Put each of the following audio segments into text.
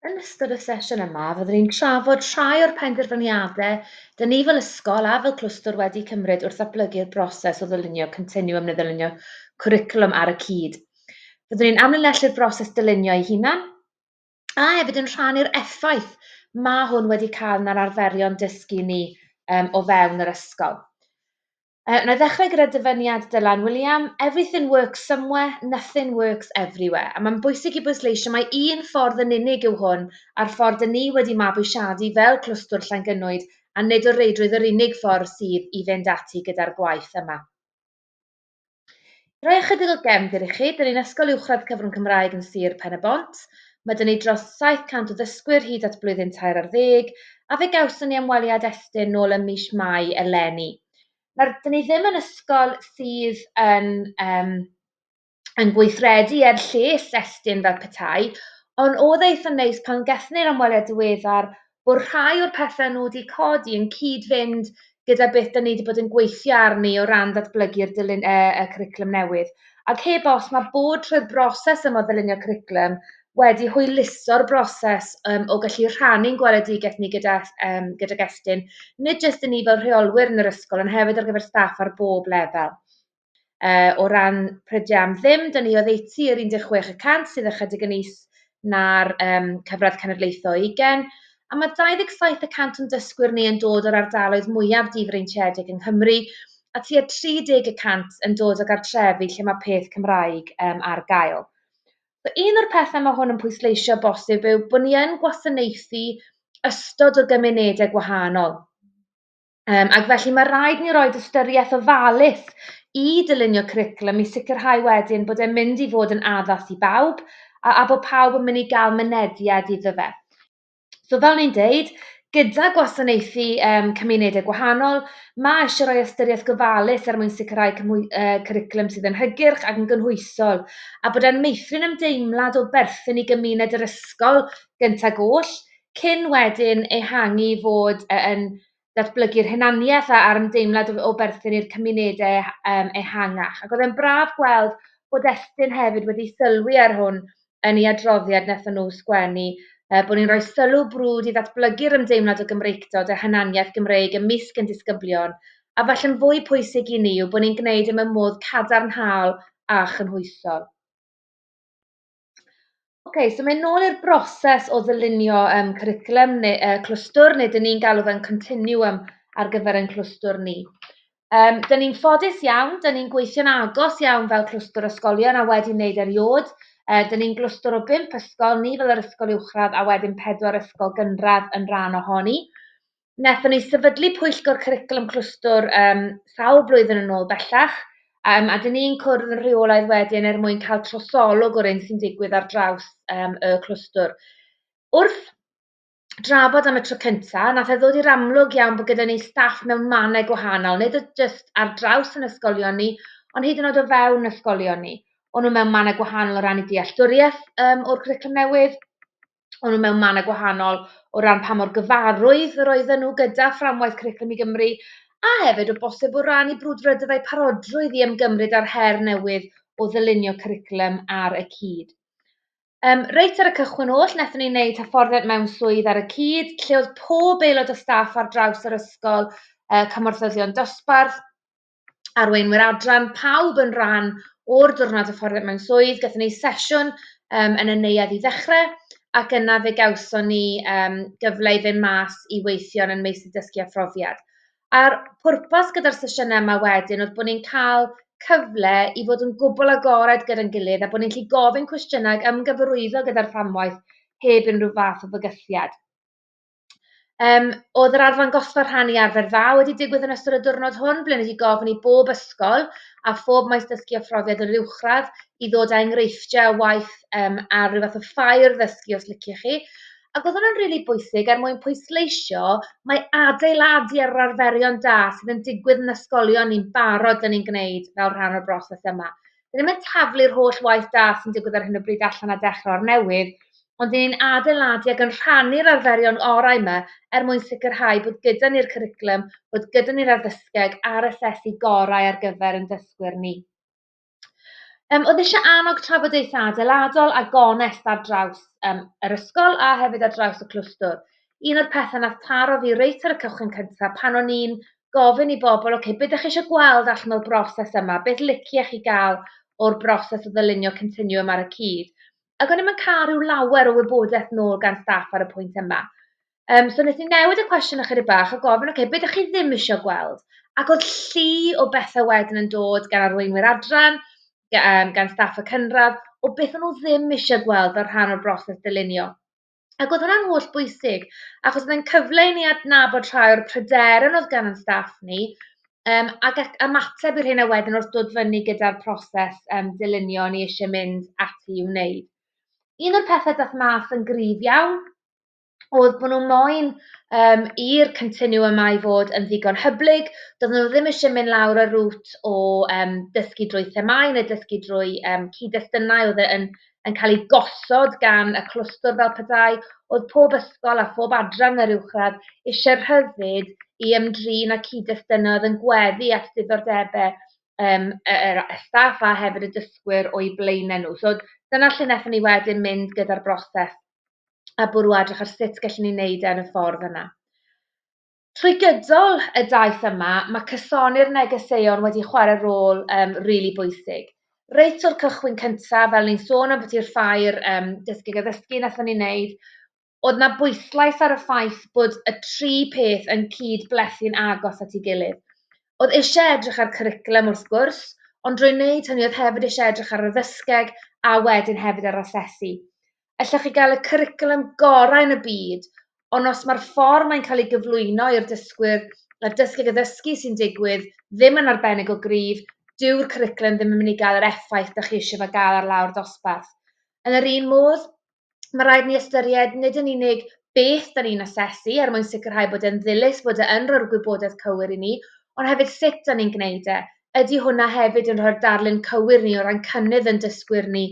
Yn ystod y sesiwn yma, fyddwn ni'n trafod rhai o'r penderfyniadau dyn ni fel ysgol a fel clwstwr wedi cymryd wrth ddatblygu'r broses o ddylunio continwwm neu ddylunio cwricwlwm ar y cyd. Byddwn ni'n amlinellu'r broses dylunio ei hunan a hefyd yn rhannu'r effaith mae hwn wedi cael yn yr arferion dysgu ni um, o fewn yr ysgol. Uh, wna i ddechrau gyda dyfyniad Dylan William, everything works somewhere, nothing works everywhere. A mae'n bwysig i bwysleisio mae un ffordd yn unig yw hwn a'r ffordd yn ni wedi mabwysiadu fel clwstwr Llangynwyd a nid o reidrwydd yr unig ffordd sydd i fynd ati gyda'r gwaith yma. Rhoi ychydig o gefnd i chi, dyn ni'n ysgol uwchradd cyfrwng Cymraeg yn Sir Pen-y-bont, mae dyn ni dros 700 o ddysgwyr hyd at blwyddyn tair ar ddeg, a fe gawson ni ymweliad Estyn nôl ym mis Mai eleni. Nawr, dyn ni ddim yn ysgol sydd yn, um, yn gweithredu er lles Estyn fel petai, ond oedd e eitha neis pan gethon ni'r ymweliad diweddar bod rhai o'r pethau nhw wedi codi yn cyd-fynd gyda beth da ni wedi bod yn gweithio arni o ran datblygu'r dilyn y, y cwricwlwm newydd. Ac heb os, mae bod trwy'r broses yma o ddylunio cwricwlwm wedi hwyluso'r broses um, o gallu rhannu'n gweledigaeth ni gyda, um, gyda gestyn, nid jyst i ni fel rheolwyr yn yr ysgol, ond hefyd ar gyfer staff ar bob lefel. Uh, o ran prydiau am ddim, dyn ni oddeutu yr 16 y cant sydd ychydig yn is na'r um, cyfradd cenedlaethol 20, a mae 27 y cant yn dysgwyr ni yn dod o'r ardaloedd mwyaf difreintiedig yng Nghymru, a tua 30 y cant yn dod o gartrefi lle mae peth Cymraeg um, ar gael. So, un o'r pethau mae hwn yn pwysleisio bosib yw bod ni yn gwasanaethu ystod o gymunedau gwahanol. Yym, ac felly mae rhaid ni roed ystyriaeth ofalus i dylunio cwricwlwm i sicrhau wedyn bod e'n mynd i fod yn addas i bawb a, a bod pawb yn mynd i gael mynediad iddo fe. So fel ni'n deud, gyda gwasanaethu um, cymunedau gwahanol, mae eisiau rhoi ystyriaeth gofalus er mwyn sicrhau cymwy, uh, cwricwlwm sydd yn hygyrch ac yn gynhwysol, a bod e'n meithrin ymdeimlad o berthyn i gymuned yr ysgol gyntaf goll, cyn wedyn ehangu i fod yy yn datblygu'r hunaniaeth a- a'r ymdeimlad o o berthyn i'r cymunede e- yym ehangach. Ac o'dd e'n braf gweld bod Estyn hefyd wedi sylwi ar hwn yn ei adroddiad nethon nhw sgwennu yy bo' ni'n rhoi sylw brwd i ddatblygu'r ymdeimlad o Gymreictod a hunaniaeth Gymreig ymysg ein disgyblion, a falle'n fwy pwysig i ni yw bo' ni'n gwneud e mewn modd cadarnhaol a chynhwysol. okay, so mae'n nôl i'r broses o ddylunio um, cwricwlum neu uh, clwstwr, neu dyn ni'n galw fe'n continuum ar gyfer ein clwstwr ni. Um, dyn ni'n ffodus iawn, dyn ni'n gweithio'n agos iawn fel clwstwr ysgolion a wedi wneud eriod. Uh, dyn ni'n glwstwr o bimp ysgol, ni fel yr ysgol uwchradd a wedyn pedwar ysgol gynradd yn rhan ohoni. wnaethon ni sefydlu pwyllgor cwricwlwm clwstwr um, sawl blwyddyn yn ôl bellach, um, a dyn ni'n cwrdd yn rheolaidd wedyn er mwyn cael trosolwg o'r un sy'n digwydd ar draws um, y clwstwr. Wrth drafod am y tro cyntaf, nath e ddod i'r amlwg iawn bod gyda ni staff mewn mannau gwahanol, nid oedd jyst ar draws yn ysgolion ni, ond hyd yn oed o fewn ysgolion ni. O'n nhw mewn mannau gwahanol o ran i dealltwriaeth um, o'r cwricwlwm newydd, o'n nhw mewn mannau gwahanol o ran pa mor gyfarwydd yr oedden nhw gyda fframwaith Cwricwlwm i Gymru, a hefyd o bosib o ran eu brwdfrydedd a'u parodrwydd i ymgymryd â'r her newydd o ddylunio cwricwlwm ar y cyd. Um, reit ar y cychwyn oll, wnaethon ni wneud hyfforddiant mewn swydd ar y cyd, lle oedd pob aelod o staff ar draws yr ysgol, uh, cymorthyddion dosbarth, arweinwyr adran, pawb yn rhan o'r diwrnod hyfforddiant mewn swydd, gathon ni sesiwn um, yn y neuadd i ddechrau, ac yna fe gawson ni um, gyfle i fynd mas i weithio'n yn meysydd dysgu a phrofiad. A'r pwrpas gyda'r sesiynau yma wedyn oedd bod ni'n cael cyfle i fod yn gwbl agored gyda'n gilydd a bod ni'n gallu gofyn cwestiynau ag ymgyfarwyddo gyda'r fframwaith heb unrhyw fath o fygythiad. Yym, oedd yr arddangosfa rhannu arfer dda wedi digwydd yn ystod y diwrnod hwn, ble wedi gofyn i bob ysgol a phob maes dysgu a phrofiad yr uwchradd i ddod â enghreifftiau o waith um, a rhyw fath o ffair ddysgu os liciwch chi. Ac oedd hwnna'n rili really bwysig er mwyn pwysleisio mae adeiladu ar yr arferion da sydd yn digwydd yn ysgolion ni'n barod yn ein gwneud fel rhan o'r broses yma. Dan ni'n mynd taflu'r holl waith da sy'n digwydd ar hyn o bryd allan a dechrau o'r newydd, ond dyn ni'n adeiladu ac yn rhannu'r arferion orau yma er mwyn sicrhau bod gyda ni'r cwricwlwm, bod gyda ni'r addysgeg a'r asesu gorau ar gyfer ein dysgwyr ni. Um, oedd eisiau annog trafodaethau adeiladol a gonest ar draws um, yr ysgol a hefyd ar draws y clwstwr. Un o'r pethau nath taro fi reit ar y cychwyn cyntaf pan o'n i'n gofyn i bobl, ok, beth ydych chi eisiau gweld allan o'r broses yma? Beth liciech chi gael o'r broses o ddylunio continue yma ar y cyd? Ac o'n i'n mynd cael rhyw lawer o wybodaeth nôl gan staff ar y pwynt yma. Um, so nes i newid y cwestiwn ychydig bach a gofyn, ok, beth ydych chi ddim eisiau gweld? Ac oedd llu o bethau wedyn yn dod gan arweinwyr adran, um, gan staff y cynradd, o beth o'n nhw ddim eisiau gweld fel rhan o'r broses dylunio. Ac oedd hwnna'n holl bwysig, achos mae'n cyfle i ni adnabod rhai o'r pryderon oedd gan ein staff ni, um, ac at ymateb i'r hyn a wedyn wrth dod fyny gyda'r proses um, dylunio ni eisiau mynd ati i'w wneud. Un o'r pethau dath mas yn gryf iawn oedd bod nhw'n moyn um, i'r cyntinu yma i fod yn ddigon hyblyg. Doedd nhw ddim eisiau mynd lawr y rŵt o um, dysgu drwy themau neu dysgu drwy um, cyd-destunau oedd e yn yn cael ei gosod gan y clwstwr fel petai oedd pob ysgol a phob adran yn yr uwchradd eisiau rhyddid i ymdrin â cyd-destynau oedd yn gweddu at ddiddordebau um, y, y staff a hefyd y dysgwyr o'i blaenau nhw. So dyna lle wnaethon ni wedyn mynd gyda'r broses a bwrw adrych ar sut gallwn ni wneud e yn y ffordd yna. Trwy gydol y daith yma, mae cysoni'r negeseuon wedi chwarae rôl um, rili really bwysig. Reit o'r cychwyn cyntaf, fel ni'n sôn am bod i'r ffair um, dysgu a ddysgu nath ni'n neud, oedd na bwyslais ar y ffaith bod y tri peth yn cyd blethu'n agos at ei gilydd. Oedd eisiau edrych ar cwricwlwm wrth gwrs, ond drwy wneud hynny oedd hefyd eisiau edrych ar y ddysgeg a wedyn hefyd ar asesu. Ella chi gael y cwricwlwm gorau yn y byd, ond os mae'r ffordd mae'n cael ei gyflwyno i'r dysgwyr a'r dysgu ac addysgu sy'n digwydd ddim yn arbennig o gryf, dyw'r cwricwlwm ddim yn mynd i gael yr effaith dych chi eisiau fe gael ar lawr dosbarth. Yn yr un modd, mae rhaid ni ystyried nid yn unig beth da ni'n asesu er mwyn sicrhau bod e'n ddilys bod e yn rhoi'r gwybodaeth cywir i ni, ond hefyd sut da ni'n gwneud e. Ydy hwnna hefyd yn rhoi'r darlun cywir ni o ran cynnydd yn dysgwyr ni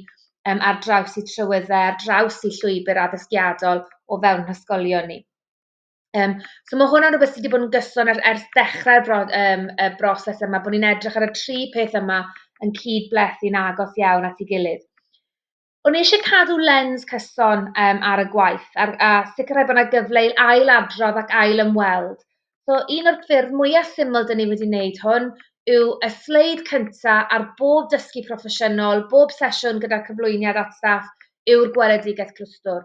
um, ar draws i trywyddau, ar draws i llwybr addysgiadol o fewn hysgolion ni. Um, so mae hwnna'n rhywbeth sydd wedi bod yn gyson ers, ers dechrau'r bro, um, y broses yma, bod ni'n edrych ar y tri peth yma yn cyd blethu'n agos iawn at ei gilydd. O'n i eisiau cadw lens cyson um, ar y gwaith a, a sicrhau bod yna gyfle i ail adrodd ac ail ymweld So un o'r ffyrdd mwyaf syml dyn ni wedi wneud hwn yw y sleid cynta ar bob dysgu proffesiynol, bob sesiwn gyda'r cyflwyniad at staff yw'r gweledigaeth clwstwr.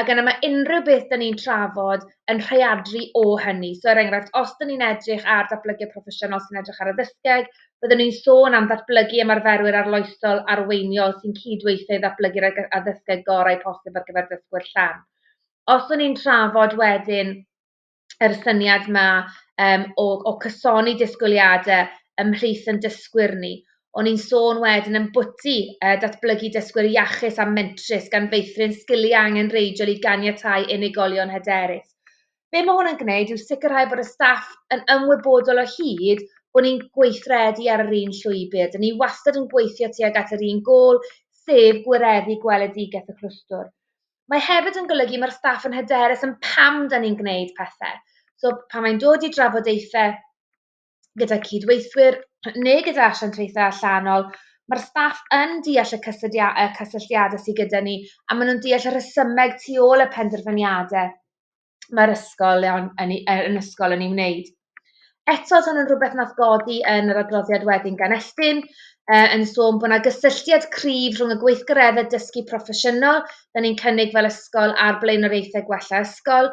Ac yna mae unrhyw beth dyn ni'n trafod yn rheadru o hynny. So er enghraifft, os dyn ni'n edrych ar datblygiad proffesiynol sy'n edrych ar y ddysgeg, byddwn ni'n sôn am ddatblygu ymarferwyr arloesol arweiniol sy'n cydweithio i ddatblygu'r addysgeg gorau posib ar gyfer dysgwyr llan. Os o'n ni'n trafod wedyn yr syniad 'ma yym o o cysoni disgwyliadau ymhlith ein dysgwyr ni. O'n i'n sôn wedyn ambwti yy datblygu dysgwyr iachus a mentrus gan feithrin sgiliau angenrheidiol i ganiatáu unigolion hyderus. Be mae hwn yn gwneud yw sicrhau bod y staff yn ymwybodol o hyd bod ni'n gweithredu ar yr un llwybr. Dyn ni wastad yn gweithio tuag at yr un gôl, sef gwireddu gweledigaeth y clwstwr. mae hefyd yn golygu mae'r staff yn hyderus yn pam da ni'n gwneud pethau. So pan mae'n dod i drafodaethau gyda cydweithwyr neu gyda asiantaethau allanol, mae'r staff yn deall y cysylltia- y cysylltiadau sydd gyda ni a maen nhw'n deall y rhesymeg tu ôl y penderfyniadau. mae'r ysgol yn, yn, yn ysgol yn ei wneud. Eto, oedd hwn yn rhywbeth nath godi yn yr adroddiad wedyn gan Estyn, uh, yn sôn bod yna gysylltiad cryf rhwng y gweithgareddau dysgu proffesiynol, da ni'n cynnig fel ysgol a'r blaenoriaethau gwella ysgol,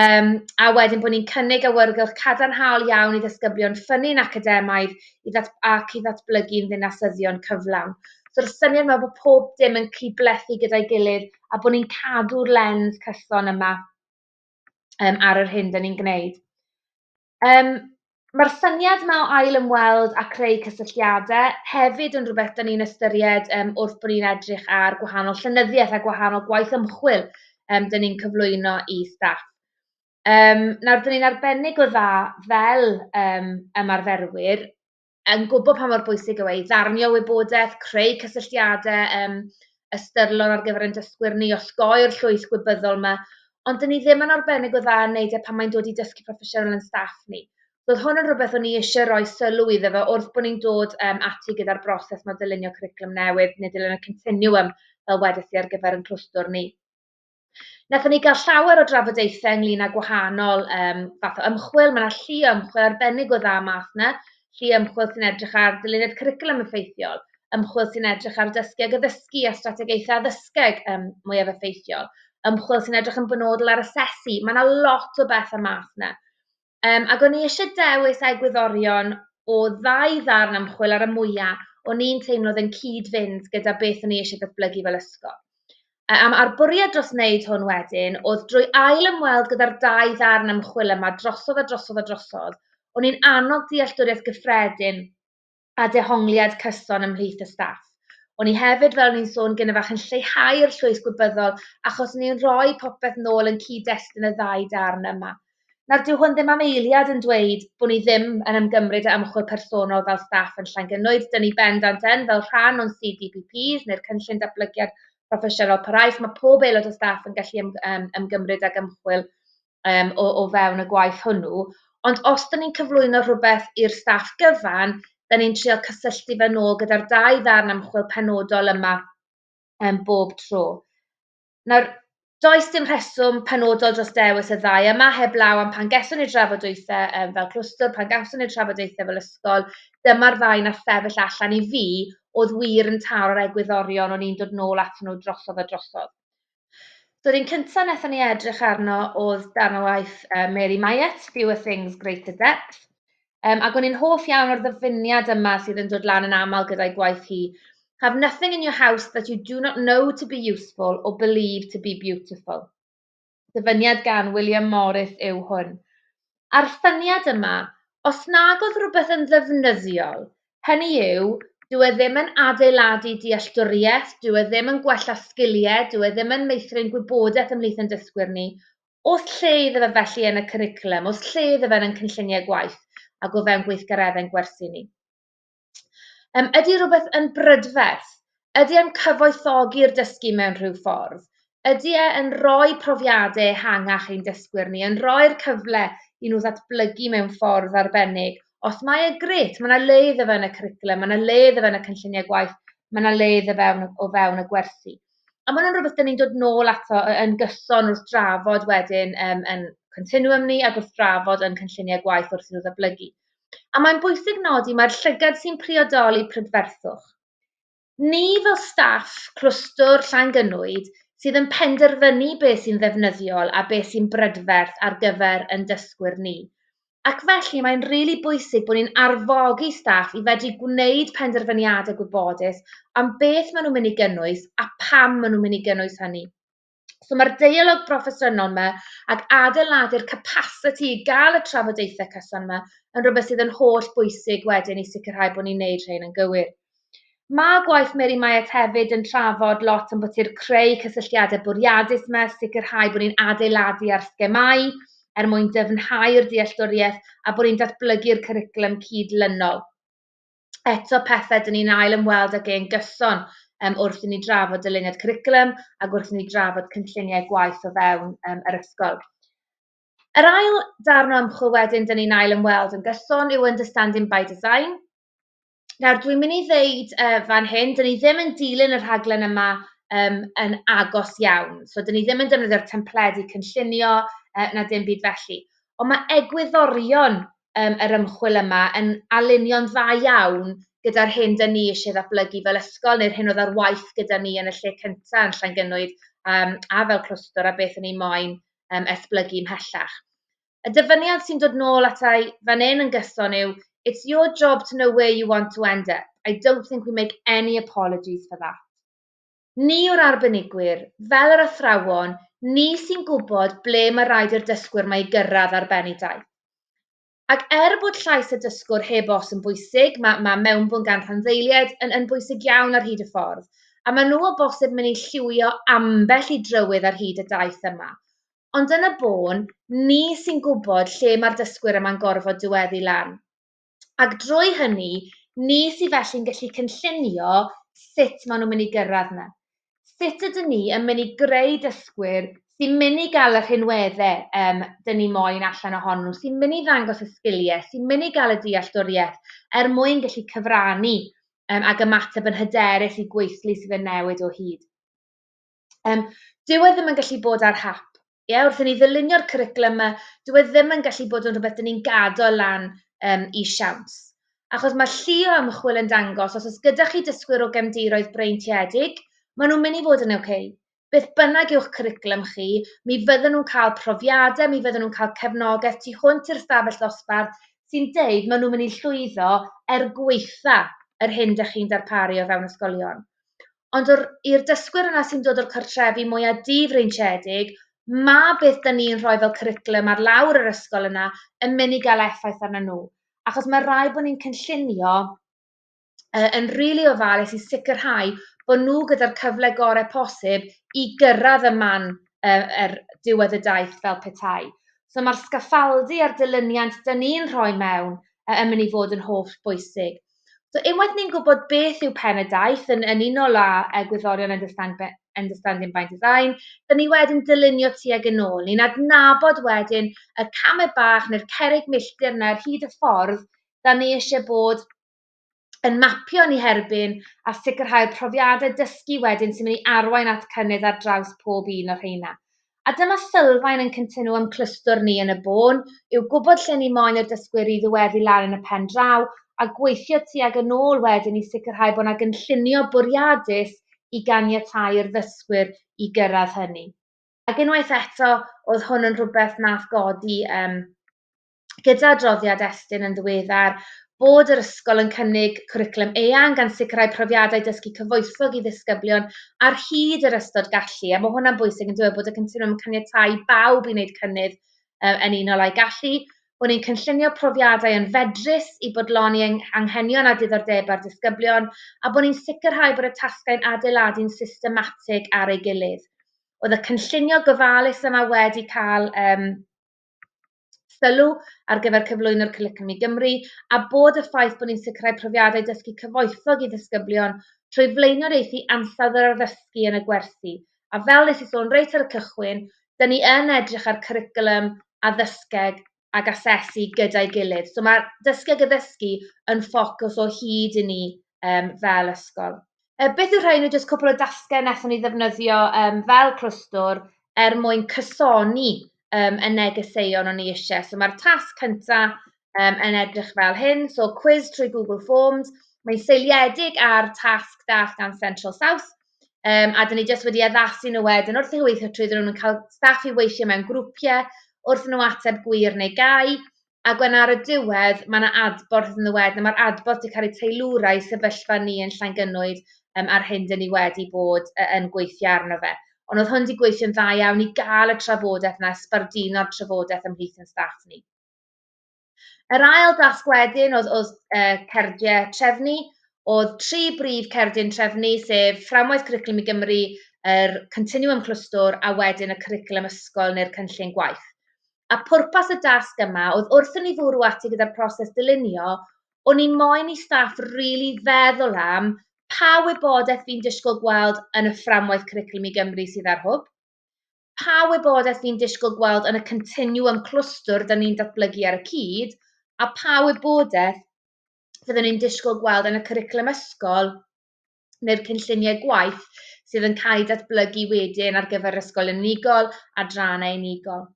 um, a wedyn bod ni'n cynnig awyrgylch cadarnhaol iawn i ddysgyblion ffynnu'n academaidd i ddat, ac i ddatblygu'n ddinasyddion cyflawn. So'r syniad yma bod pob dim yn cyd-blethu gyda'i gilydd a bod ni'n cadw'r lens cyson yma um, ar yr hyn dyn ni'n gwneud. Um, Mae'r syniad yma o ail ymweld a creu cysylltiadau hefyd yn rhywbeth dyn ni'n ystyried um, wrth bod ni'n edrych ar gwahanol llynyddiaeth a gwahanol gwaith ymchwil um, dyn ni'n cyflwyno i staff. Um, nawr, dyn ni'n arbennig o dda fel um, ymarferwyr yn gwybod pa mor bwysig yw e i ddarnio wybodaeth, creu cysylltiadau, um, ystyrlon ar gyfer ein dysgwyr ni, osgoi'r llwyth gwybyddol yma, ond dyn ni ddim yn arbennig o dda yn neud e pan mae'n dod i dysgu proffesiynol yn staff ni. Roedd hwn yn rhywbeth o'n i eisiau rhoi sylw iddo fe wrth bod ni'n dod um, ati gyda'r broses mae dylunio cwriclwm newydd, neu dylunio continuum, fel wedys i ar gyfer yn clwstwr ni. Nathon ni gael llawer o drafodaethau ynglyn â gwahanol um, fath o ymchwil. Mae yna llu ymchwil arbennig o dda math yna, llu ymchwil sy'n edrych ar ddyluniad cwricwlwm effeithiol, ymchwil sy'n edrych ar dysgu ag addysgu a strategaethau addysgeg um, mwyaf effeithiol, ymchwil sy'n edrych yn benodol ar asesu. Mae yna lot o beth o'r math yna. Yym, ac o'n i isie dewis egwyddorion o ddau ddarn ymchwil ar y mwya' o'n i'n teimlo oedd yn cyd-fynd gyda beth o'n i isie datblygu fel ysgol. A am a'r bwriad dros wneud hwn wedyn oedd drwy ail ymweld gyda'r dau ddarn ymchwil yma drosodd a drosodd a drosodd, o'n i'n annog dealltwriaeth gyffredin a dehongliad cyson ymhlith y staff. O'n i hefyd, fel o'n i'n sôn gyda fach, yn lleihau'r llwys gwybyddol achos ni'n rhoi popeth nôl yn cyd-destun y ddau darn yma. Nawr, dyw hwn ddim am eiliad yn dweud bod ni ddim yn ymgymryd â ymchwil personol fel staff yn Llangynnoed. Dyn ni bendant yn fel rhan o'n CDPPs neu'r cynllun datblygiad proffesiynol paraeth. Mae pob aelod o staff yn gallu ym, ym, ymgymryd ag ymchwil um, o, o fewn y gwaith hwnnw. Ond os da ni'n cyflwyno rhywbeth i'r staff gyfan, da ni'n trio cysylltu fe nôl gyda'r dau ddarn ymchwil penodol yma um, bob tro. Nawr, does dim rheswm penodol dros dewis y ddau yma heb law am pan geswn i'r drafodaethau um, fel clwstwr, pan gawson ni'r trafodaethau fel ysgol, dyma'r ddau na sefyll allan i fi oedd wir yn taro'r egwyddorion o'n i'n dod nôl at nhw drosodd a drosodd. So'r un cynta nethon ni edrych arno o'dd darn o waith yy Mary Myatt, Fewer Things Greater Depth, um, ac o'n i'n hoff iawn o'r ddyfyniad yma sydd yn dod lan yn aml gyda'i gwaith hi. Have nothing in your house that you do not know to be useful or believe to be beautiful. Dyfyniad gan William Morris yw hwn. a'r syniad yma, os nag oedd rhywbeth yn ddefnyddiol, hynny yw, dyw e ddim yn adeiladu dealltwriaeth, dyw e ddim yn gwella sgiliau, dyw e ddim yn meithrin gwybodaeth ymhlith ein dysgwyr ni, oes lle iddo fe felly yn y cwricwlwm, oes lle iddo fe yn ein cynlluniau gwaith ac o fewn gweithgareddau'n gwersi ni. Yym, ydy rhywbeth yn brydferth? Ydy e'n cyfoethogi'r dysgu mewn rhyw ffordd? Ydy e yn rhoi profiadau ehangach i'n dysgwyr ni, yn rhoi'r cyfle i nhw ddatblygu mewn ffordd arbennig? Os mae e, grêt, mae yna le iddo fe yn y cwricwlwm, mae yna le iddo fe yn y cynlluniau gwaith, mae yna le iddo fe o fewn y gwersi. A mae hwnna'n rhywbeth dyn ni'n dod nôl ato yn gyson wrth drafod wedyn um, yn continuum ni ac wrth drafod yn cynlluniau gwaith wrth i'n nhw ddatblygu. a mae'n bwysig nodi mai'r llygad sy'n priodoli prydferthwch. Ni fel staff clwstwr Llangynwyd sydd yn penderfynu beth sy'n ddefnyddiol a beth sy'n brydferth ar gyfer ein dysgwyr ni. Ac felly mae'n rili really bwysig bod ni'n arfogi staff i fedru gwneud penderfyniadau gwybodus am beth maen nhw'n mynd i gynnwys a pam maen nhw'n mynd i gynnwys hynny. So mae'r deialog broffesiynol 'ma ac adeiladu'r capasiti i gael y trafodaethau cyson 'ma yn rhywbeth sydd yn holl bwysig wedyn i sicrhau bod ni'n neud rhain yn gywir. Mae gwaith Mary Myatt hefyd yn trafod lot am bod i'r creu cysylltiadau bwriadus yma, sicrhau bod ni'n adeiladu ar sgemau er mwyn dyfnhau'r dealltwriaeth a bod ni'n datblygu'r cwricwlwm cyd-lynol. eto pethe dyn ni'n ail ymweld ag ein gyson um, wrth i ni drafod dyluniad cwricwlwm ac wrth i ni drafod cynlluniau gwaith o fewn um, yr ysgol. Yr ail darn o ymchwil wedyn dyn ni'n ail ymweld yn gyson yw Understanding by Design. Nawr, dwi'n mynd i ddeud uh, fan hyn, dyn ni ddim yn dilyn y rhaglen yma um, yn agos iawn. So, dyn ni ddim yn defnyddio'r templedi cynllunio uh, na dim byd felly. Ond mae egwyddorion um, yr ymchwil yma yn alinio'n dda iawn gyda'r hyn dyn ni eisiau ddatblygu fel ysgol neu'r hyn oedd ar waith gyda ni yn y lle cyntaf yn Llangynwyd um, a fel clwstwr a beth yn ei moyn um, esblygu ymhellach. Y dyfyniad sy'n dod nôl atai fan hyn yn gyson yw It's your job to know where you want to end up. I don't think we make any apologies for that. Ni yw'r arbenigwyr, fel yr athrawon, ni sy'n gwybod ble mae rhaid i'r dysgwyr mae i gyrraedd ar ben ei daith. Ac er bod llais y dysgwr heb os yn bwysig, mae, mae mewnbwn gan rhanddeiliaid yn, yn bwysig iawn ar hyd y ffordd, a maen nhw o bosib mynd i lliwio ambell i drywydd ar hyd y daith yma. Ond yn y bôn, ni sy'n gwybod lle mae'r dysgwyr yma'n gorfod diweddu lan. ac drwy hynny, ni sydd felly'n gallu cynllunio sut maen nhw'n mynd i gyrraedd 'na. Sut ydyn ni yn mynd i greu dysgwyr sy'n mynd i gael y rhinweddau yym dyn ni moyn allan ohonyn nhw, sy'n mynd i ddangos y sgiliau, sy'n mynd i gael y dealltwriaeth er mwyn gallu cyfrannu um, ac ymateb yn hyderus i gweithlu sydd yn newid o hyd. Yym, dyw e ddim yn gallu bod ar hap. Ie, wrth i ni ddylunio'r cwricwlwm 'ma, dyw e ddim yn gallu bod yn rhywbeth 'dyn ni'n gadael lan yym i siawns. Achos mae llu o ymchwil yn dangos, os oes gyda chi dysgwyr o gefndiroedd breintiedig, maen nhw'n mynd i fod yn OK. Beth bynnag yw'ch cwricwlwm chi, mi fydden nhw'n cael profiadau, mi fydden nhw'n cael cefnogaeth tu hwnt i'r stafell ddosbarth sy'n deud maen nhw'n mynd i llwyddo er gweitha yr hyn da chi'n darparu o fewn ysgolion. Ond o'r... i'r dysgwyr yna sy'n dod o'r cartrefi mwya difreintiedig, ma' beth 'dan ni'n rhoi fel cwricwlwm ar lawr yr ysgol yna yn mynd i gael effaith arnyn nhw. Achos ma' raid bod ni'n cynllunio yy yn rili ofalus i sicrhau bod nhw gyda'r cyfle gorau posib i gyrraedd y man yy yr diwedd y daith fel petai. So ma'r sgaffaldu a'r dilyniant 'dan ni'n rhoi mewn yy yn mynd i fod yn holl bwysig. So unwaith ni'n gwybod beth yw pen y daith yn yn unol â yy gwyddorion understand be- understanding by design, dan ni wedyn dylunio tuag yn ôl. Ni'n adnabod wedyn y camau bach neu'r cerrig milltir yna ar hyd y ffordd dan ni eisiau bod yn mapio ni herbyn a sicrhau'r profiadau dysgu wedyn sy'n mynd i arwain at cynnydd ar draws pob un o'r rheina. A dyma sylfaen ein cyntenu â'n clwstwr ni yn y bôn, yw gwybod lle ni moyn y dysgwyr i ddiweddu lan yn y pen draw, a gweithio tuag yn ôl wedyn i sicrhau bod 'na gynllunio bwriadus i ganiatáu i'r ddysgwyr i gyrraedd hynny. Ac unwaith eto, oedd hwn yn rhywbeth wnaeth godi yym gyda adroddiad Estyn yn ddiweddar bod yr ysgol yn cynnig cwricwlwm eang gan sicrhau profiadau dysgu cyfoethog i ddisgyblion ar hyd yr ystod gallu, a mae hwnna'n bwysig yn dweud bod y cynlluniau yn caniatau i bawb i wneud cynnydd uh, yn unol â'i gallu, bod ni'n cynllunio profiadau yn fedrus i bodloni anghenion a diddordebau'r disgyblion a bod ni'n sicrhau bod y tasgau'n adeiladu'n systematig ar ei gilydd. Oedd y cynllunio gofalus yma wedi cael um, sylw ar gyfer cyflwyno'r Cwricwlwm i Gymru, a bod y ffaith bod ni'n sicrhau profiadau dysgu cyfoethog i ddisgyblion trwy flaenoriaethu ansawdd yr addysgu yn y gwersi, a fel nes i sôn reit ar y cychwyn, dyn ni yn edrych ar cwricwlwm, addysgeg ac asesu gyda'i gilydd. So mae dysgu ac addysgu yn ffocws o hyd i ni um, fel ysgol. Yy beth yw rhain yw jyst cwpl o dasge nethon ni ddefnyddio yym fel clwstwr er mwyn cysoni yym y negeseuon o'n ni isie. So mae'r tasg cynta yym yn edrych fel hyn, so cwis trwy Google Forms, mae'n seiliedig ar tasg dath gan Central South, um, a dyn ni jyst wedi addasu nhw wedyn wrth i nhw weithio trwy, dyn nhw'n cael staff i weithio mewn grwpiau wrth nhw ateb gwir neu gau, Ac wedyn ar y diwedd, mae yna adborth yn ddiwedd, a mae'r adborth wedi cael ei teilwra i sefyllfa ni yn Llangynwyd um, a'r hyn dyn ni wedi bod uh, yn gweithio arno fe. Ond oedd hwn wedi gweithio'n dda iawn i gael y trafodaeth yna, sbarduno'r trafodaeth ymhlith yn staff ni. Yr ail dasg wedyn oedd, oedd uh, cerdiau trefnu, oedd tri brif cerdyn trefnu, sef fframwaith Cwricwlwm i Gymru, yr Continuum Clwstwr a wedyn y Cwricwlwm Ysgol neu'r Cynllun Gwaith. a pwrpas y dasg yma oedd wrth i ni fwrw ati gyda'r proses dylunio, o'n i moyn i staff rili feddwl am pa wybodaeth fi'n disgwyl gweld yn y fframwaith Cwricwlwm i Gymru sydd ar Hwb, pa wybodaeth fi'n disgwyl gweld yn y continwwm clwstwr 'da ni'n datblygu ar y cyd, a pa wybodaeth fyddwn i'n disgwyl gweld yn y cwricwlwm ysgol neu'r cynlluniau gwaith sydd yn cael eu datblygu wedyn ar gyfer ysgol yn unigol, adrannau unigol.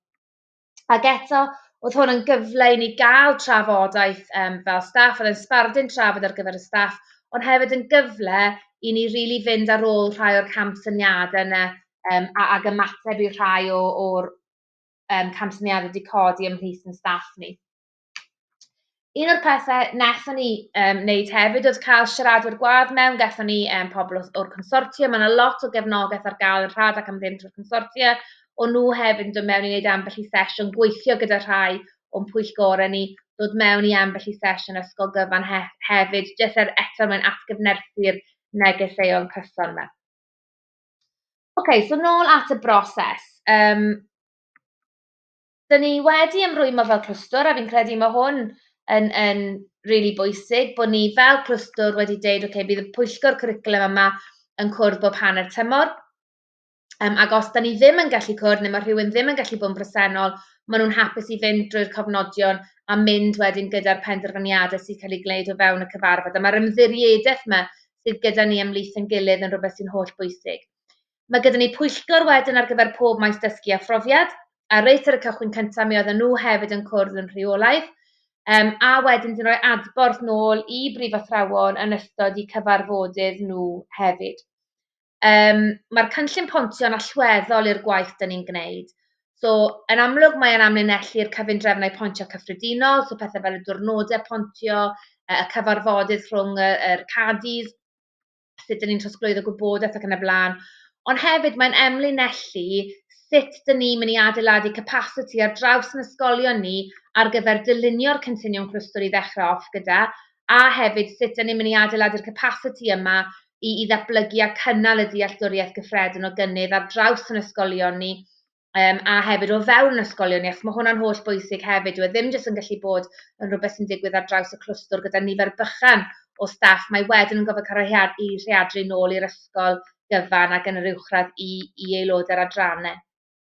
Ac eto, oedd hwn yn gyfle i ni gael trafodaeth um, fel staff, oedd yn sbardun trafod ar gyfer y staff, ond hefyd yn gyfle i ni rili really fynd ar ôl rhai o'r camsyniadau yna um, a, ag ymateb i rhai o'r um, camsyniadau wedi codi ymhlith yn staff ni. Un o'r pethe wnaethon ni um, wneud hefyd oedd cael siaradwyr gwadd mewn, gaethon ni um, pobl o'r consortia, mae yna lot o gefnogaeth ar gael yn rhad ac am ddim trwy'r consortia, o nhw hefyd yn dod mewn i wneud ambell i sesiwn, gweithio gyda rhai o'n pwyllgorau ni, dod mewn i ambell i sesiwn ysgol gyfan he hefyd, jyst er eto mae'n atgyfnerthu'r negeseuon cyson yma. Oce, okay, so nôl at y broses. Um, 'dyn ni wedi ymrwymo fel clwstwr, a fi'n credu mae hwn yn, yn really bwysig, bod ni fel clwstwr wedi deud, oce, okay, bydd y pwyllgor cwricwlum yma yn cwrdd bob hanner tymor, Um, ac os da ni ddim yn gallu cwrdd neu mae rhywun ddim yn gallu bod yn bresennol, maen nhw'n hapus i fynd drwy'r cofnodion a mynd wedyn gyda'r penderfyniadau sy'n cael ei gwneud o fewn y cyfarfod. A mae'r ymddiriedeth yma sydd gyda ni ymlaeth yn gilydd yn rhywbeth sy'n holl bwysig. Mae gyda ni pwyllgor wedyn ar gyfer pob maes dysgu a phrofiad, a reit ar y cychwyn cyntaf mi oedden nhw hefyd yn cwrdd yn rheolaidd, um, a wedyn dyn rhoi adborth nôl i brifathrawon yn ystod i cyfarfodydd nhw hefyd. Um, Mae'r cynllun pontio'n allweddol i'r gwaith dyn ni'n gwneud. So, yn amlwg mae'n amlinellu'r cyfundrefnau pontio cyffredinol, so pethau fel y diwrnodau pontio, y cyfarfodydd rhwng y, yr cadis, sut dyn ni'n trosglwyddo gwybodaeth ac yn y blaen. Ond hefyd mae'n emlinellu sut dyn ni'n mynd i adeiladu capasiti ar draws yn ysgolion ni ar gyfer dylunio'r cynllunion clwstwr i ddechrau off gyda, a hefyd sut dyn ni'n mynd i adeiladu'r capasiti yma i, i ddatblygu a cynnal y dealltwriaeth gyffredin o gynnydd ar draws yn ysgolion ni Um, a hefyd o fewn ysgolion ni, achos mae hwnna'n holl bwysig hefyd, yw e ddim jyst yn gallu bod yn rhywbeth sy'n digwydd ar draws y clwstwr gyda nifer bychan o staff, mae wedyn yn gofod cael ei rheadru nôl i'r ysgol gyfan ac yn yr uwchradd i, i aelodau'r adrannau.